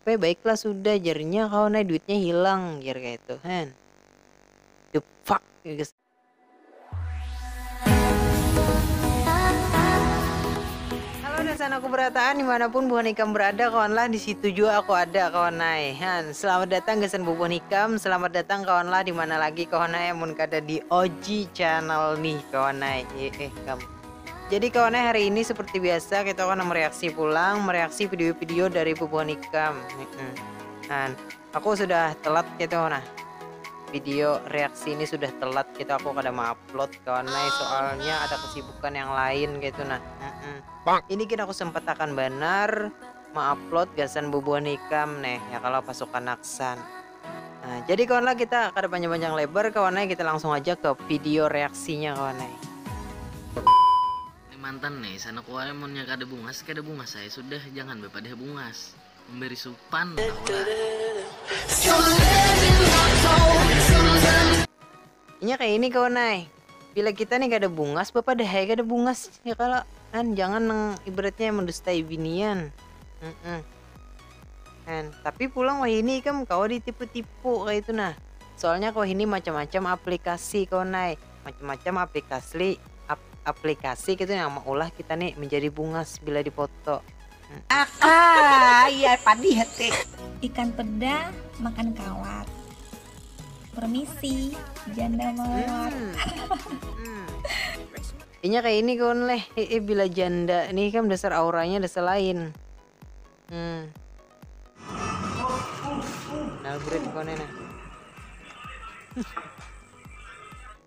Pe baiklah sudah jar nya kawan ai duitnya hilang jar kaitu kan. The fuck jar gesan. Halo dasan aku berataan dimanapun buhan ikam berada kawanlah disitu jua aku ada kawan ai han. Selamat datang gasan bubuhan ikam selamat datang kawanlah dimana lagi kawan ai amun kada di Oji channel nih kawan ai. Iih kam. Jadi kawan eh hari ini seperti biasa kita akan mereaksi pulang, mereaksi video-video dari bubuhan ikam. Dan aku sudah telat gitu nah. Video reaksi ini sudah telat gitu aku kada mau upload kawan eh soalnya ada kesibukan yang lain gitu nah. Ini kita aku sempat akan benar mau upload gasan bubuhan ikam neh ya kalau pasukan aksan. Nah, jadi kawan lah kita kada panjang-panjang lebar kawan eh, kita langsung aja ke video reaksinya kawan eh. Ini mantan nih, sana kuai munnya kada bungas, kada bungas ai sudah, jangan bapadah bungas. Memberi supan, tahulah. Inya kaya ini kawan ai, bila kita ni kada bungas bapadah ai kada bungas ya kalo, kan jangan nang ibaratnya mendustai binian, heeh kan, tapi pulang wahini ikam kawa ditipu-tipu kaya itu nah, soalnya wahini macam-macam aplikasi kawan ai, macam-macam aplikasli aplikasi kaya itu nang maulah kita ni menjadi bungas bila di foto. Akaa iya padi hati. Ikan peda makan kawat. Permisi janda mawar. Inya kaya ini kawan leh, iih bila janda nih ikam dasar auranya dasar lain. Hmm. Nalbread kawan nih nah.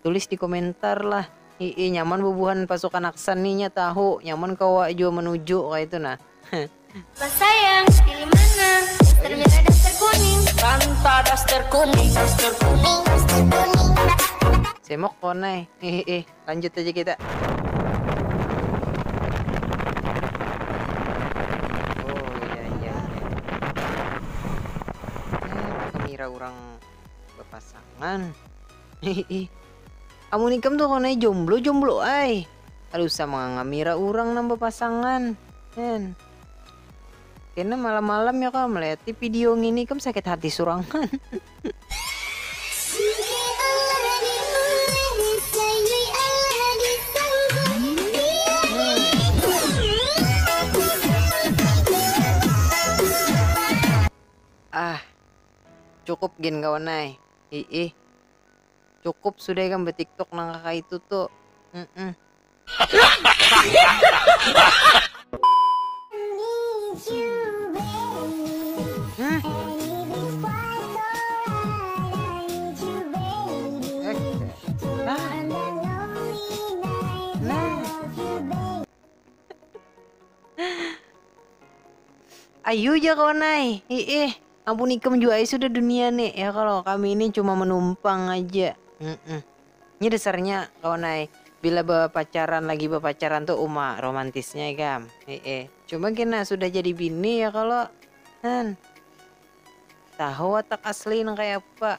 Tulis di komentar lah. Hiih nyaman bubuhan pasukan aksan nih nya tahu nyaman kawa jua menuju kaitu nah heeh. Abah sayang, pilih mana? Daster merah daster kuning? Santa daster kuning daster kuning daster kuning. Semok pon ai hiih lanjut aja kita. Oh iya iya iya. Kenapa kemira urang bepasangan. Hihi. Amun ikam tu kawannya jomblo jomblo ai. Kada usah mangangamira urang nang bapasangan. Hen. Kena malam malam ya kah meliati pidio ngini ikam sakit hati surangan. Ah. Cukup gin kawan ai. Hi-ih. Cukup sudah ikam betiktok nang kakaitu tu. Ayu ja kawan ai. Hi-ih. Ampun ikam jua ai sudah dunia nih ya kalau kami ini cuma menumpang aja. Mm -mm. Ini dasarnya kawan ai bila berpacaran lagi berpacaran tuh uma romantisnya ikam. Eh, eh. Cuma kena sudah jadi bini ya kalau han. Tahu watak asli nang kayak apa.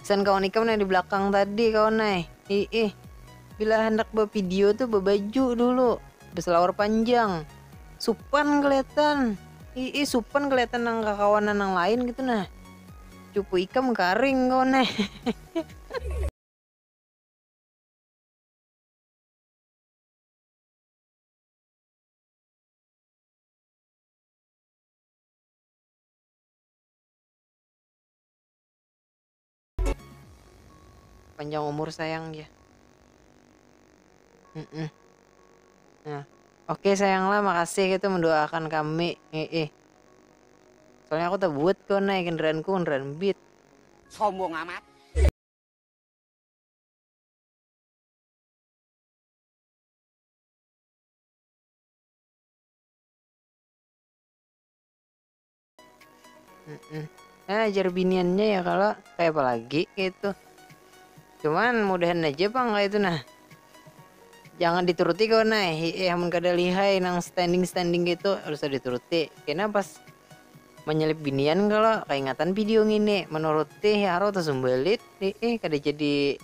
Pesan kawan ikam nang di belakang tadi kawan ai. Hiih. Bila handak bapidio tu babaju dulu. Basalawar panjang. Supan keliatan. Hiih supan keliatan nang kakawanan nang lain gitu nah. Cuku ikam karing kawan ai. panjang umur sayang ya mm -mm. nah oke okay, sayang lah makasih itu mendoakan kami eh, eh. soalnya aku tak buat kau naik kendaraan ku kendaraan beat sombong amat nah ajar biniannya ya kalau kayak apa lagi gitu cuman mudahan aja pang kayak itu nah jangan dituruti kau nah ya mun kada lihai nang standing standing gitu harus dituruti kena pas menyelip binian kalau keingatan video ngini menuruti ya harus tersumbalit eh kada jadi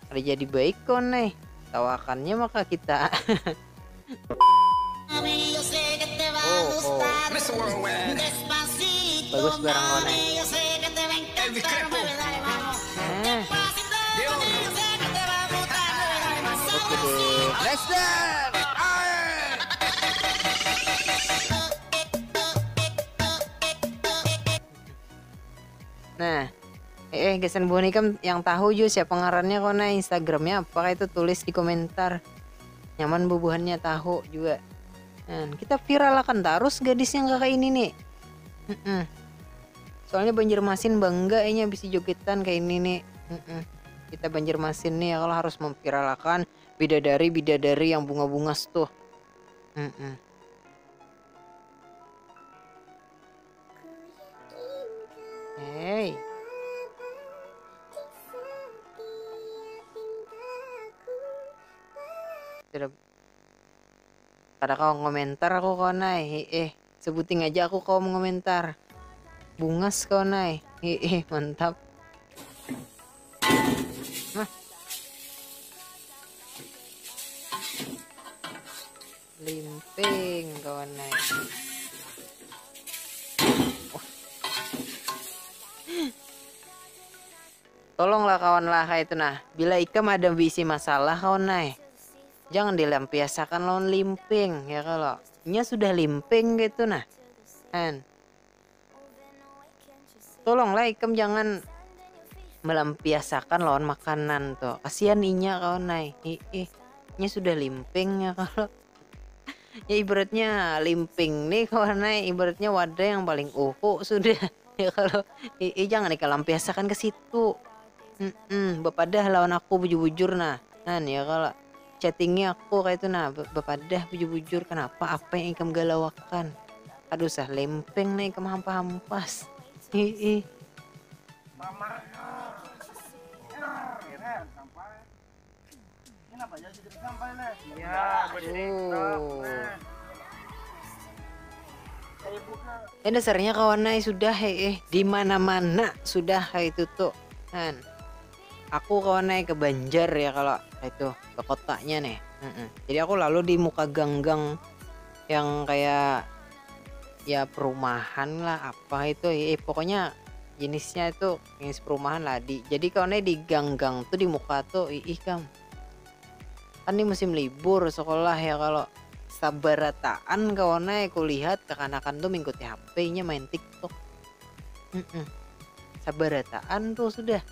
Kada jadi baik kawan neh. Tawakannya maka kita. Bagus barang kawan neh. Nah, eh gasan buah nikam yang tahu jua siapa ngarannya kau nah Instagramnya apa kayak itu tulis di komentar. Nyaman bubuhannya tahu juga. Nah, kita viralakan terus gadis yang kakak ini nih. Mm -mm. Soalnya Banjarmasin bangga ini bisa jogetan kayak ini nih. Mm -mm. Kita Banjarmasin nih ya kalau harus memviralakan bidadari bidadari yang bunga-bungas tuh. Mm -mm. Kada kawa komentar aku kawan ai hiih sebuting aja aku kawa mengomentar bungas kawan ai hiih mantap limping kawan eh. tolonglah kawan lah itu nah bila ikam ada bisi masalah kawan eh. jangan dilampiasakan lawan limping ya kalau nya sudah limping gitu nah kan tolonglah ikam jangan melampiasakan lawan makanan tuh kasihan inya kawan ai ih nya sudah limping ya kalau ya ibaratnya limping nih kawan ai ibaratnya wadah yang paling uhu sudah ya kalau ih, ih jangan ikam lampiasakan ke situ mm -mm, bapadah lawan aku bujur-bujur nah kan ya kalau Chattingi aku kaitu nah, bapadah bujur-bujur kanapa apa yang ikam galauakan. Kada usah lempeng nah ikam hampa-hampas. Hiih. Ih dasarnya kawan ai sudah hiih dimana-mana sudah kaitu tu. Aku kawa naya ke Banjar ya kalo itu ke kotanya nih, jadi aku lalu di muka gang-gang yang kaya ya perumahan lah apa itu ya pokoknya jenisnya itu jenis perumahan lah di jadi kawa naya di gang-gang tu di muka tu iih kam kan ni musim libur sekolah ya kalo sabarataan kawa naya kulihat kekanakan tu mingkuti hp inya main tiktok. Sabarataan tuh sudah.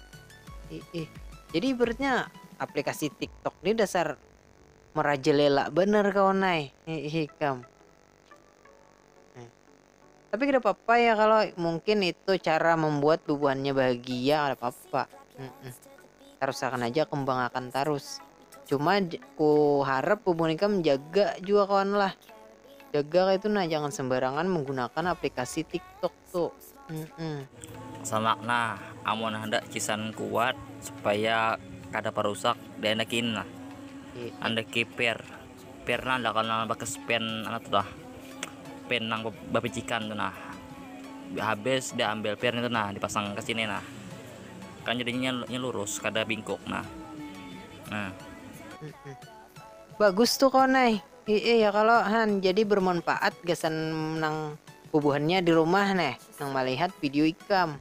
Iih. Jadi ibaratnya aplikasi TikTok nih dasar merajalela banar kawan ai. Iih ikam. Tapi kada apa-apa ya kalau mungkin itu cara membuat bubuhannya bahagia kada apa-apa. Tarusakan haja, kembangakan tarus. cuma ku harap bubun ikam jaga jua kawan lah jaga kaitu nah jangan sembarangan menggunakan aplikasi tiktok tu humm. Sanak nah, amun handak cisan kuat supaya kada parusak diandakin nah, andaki pair. Pernah dah kalu nang bakas pen anu tu nah pen nang bapicikan tu nah habis diambil pen itu nah dipasang ka sini nah kan jadinya inya lurus kada bingkuk nah nah. Bagus tu kawan ai. Iih ya kalo han jadi bermanfaat gasan nang bubuhannya di rumah neh nang malihat video ikam.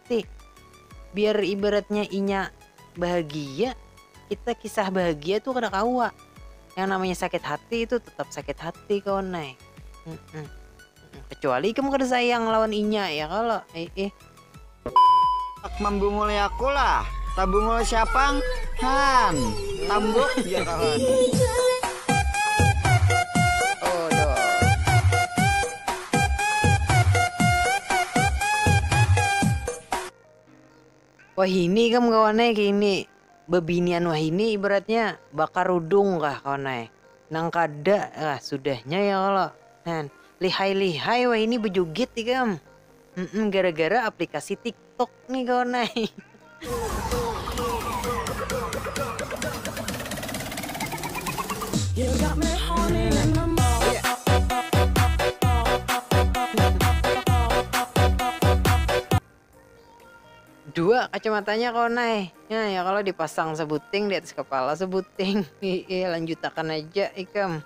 Tik. Biar ibaratnya inya bahagia, kita kisah bahagia tu kada kawa. Yang namanya sakit hati tu tetap sakit hati kawan ai. Kecuali ikam kada sayang lawan inya ya kalo ai. Handak mambunguli aku lah. Tabungul siapang han. Tambuk ja kawan. Wahini ikam kawan ai kini bebinian wahini ibaratnya bakarudung kah kawan ai nang kada kah sudahnya ya kalo lihai lihai wahini bejugit ikam gara gara aplikasi tik Tuk ni kawan ai. Dua kacamatanya kawan ai. Nya ya kalo dipasang sabuting di atas kapala sabuting. Hiih lanjutakan aja ikam.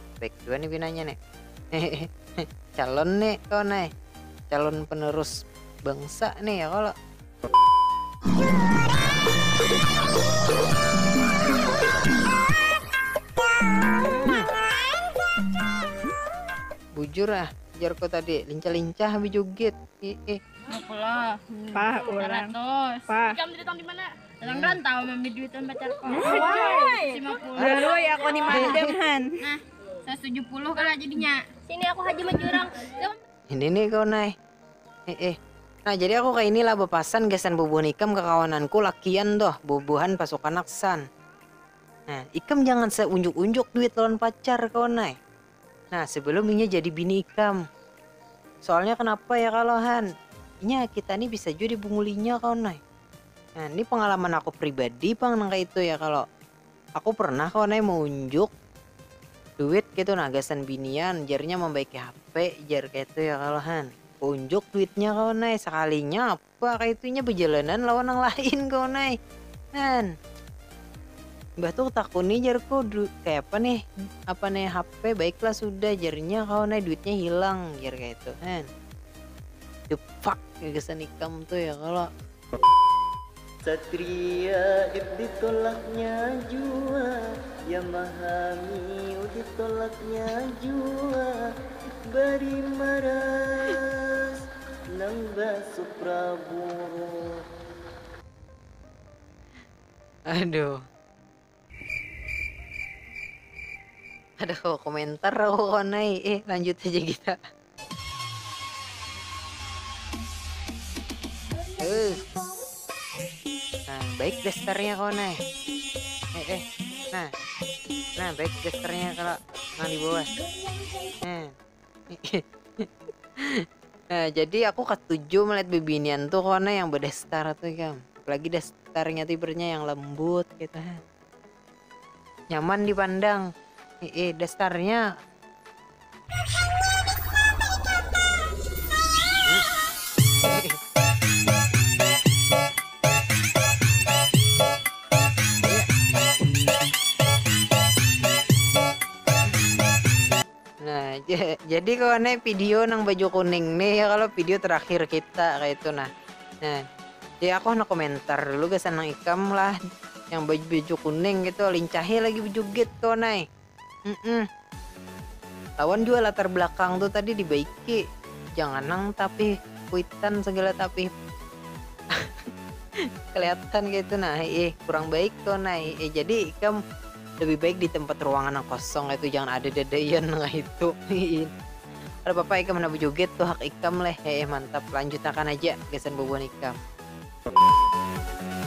baik juga nih pinanya nih calon nih kau nih calon penerus bangsa nih ya kalau bujur ah jarko tadi lincah-lincah habis joget ih ih Pak, orang. Pak. Ikam dari tahun di mana? Orang rantau mambi duitan pacar ko. Lalu ya aku ni madam han. Nah, 170 kala jadinya. Sini aku haji majurang. Ini nih kau nai. Eh eh. Nah jadi aku kaini lah bepasan gasan bubuhan ikam kakawananku lakian tuh bubuhan pasukan aksan. Nah ikam jangan seunjuk unjuk duit lawan pacar kawan nai. Nah, sebelum inya jadi bini ikam. Soalnya kenapa ya kalau Han? Inya kita nih bisa juga dibungulinya kau nay. Nah, ini pengalaman aku pribadi pang nang kayak itu ya kalau aku pernah kau nay mau unjuk duit gitu nah gasan binian jarnya membaiki HP jar kayak itu ya kalau Han. Aku unjuk duitnya kau nay sekalinya Pakai tu inya bajalanan lawan nang lain kawan ai kan. Imbah tu kutakuni jarku, kayapa nih apa nih HP, baiklah sudah jarnya kawan ai duitnya hilang jar kayatu kan. The fuck gasan ikam tu ya kalo. Satria if ditolaknya jua ya mahami oh ditolaknya jua bari maras. Nang basupra buruk. Aduh. Ada kawa komentar aku kawan ai. Eh, lanjut aja kita. Eh. Nah, baik dasternya kawan ai. Eh, eh. Nah. Nah, baik dasternya kalau nang di bawah. Nah. nah, jadi aku katuju melihat bibinian tuh karena yang bedestar tuh kam apalagi destarnya tuh ibaratnya yang lembut gitu nyaman dipandang eh destarnya Nah, ja- jadi kawan nih video nang baju kuning nih ya kalau video terakhir kita kayak itu nah. Nah, jadi aku hendak komentar dulu gasan nang ikam lah yang baju baju kuning gitu lincahi lagi bejugit kawan nih. Mm-mm. Lawan juga latar belakang tuh tadi dibaiki. Jangan nang tapi kuitan segala tapi kelihatan kayak itu nah eh kurang baik tuh nah eh jadi ikam Lebih baik di tempat ruangan nang kosong kaitu jangan ada dadaian kaitu hihi. Kada papa ikam handak bajoget tuh hak ikam leh heeh mantap lanjut akan aja gasan bubuhan ikam.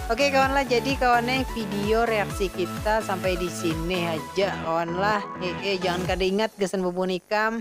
Oke kawan lah jadi kawan eh video reaksi kita sampai di sini haja kawan lah heeh jangan kada ingat gasan bubuhan ikam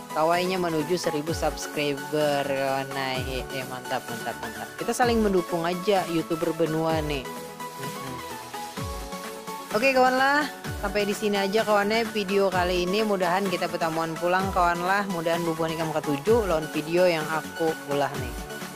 Kawa inya manuju seribu subscriber kawan ai he he mantap mantap mantap kita saling mendukung aja youtuber benua nih oke kawan lah sampai di sini aja kawannya video kali ini mudahan kita bertamuan pulang kawan lah mudahan bubuhan ikam ketujuh lawan video yang aku ulah nih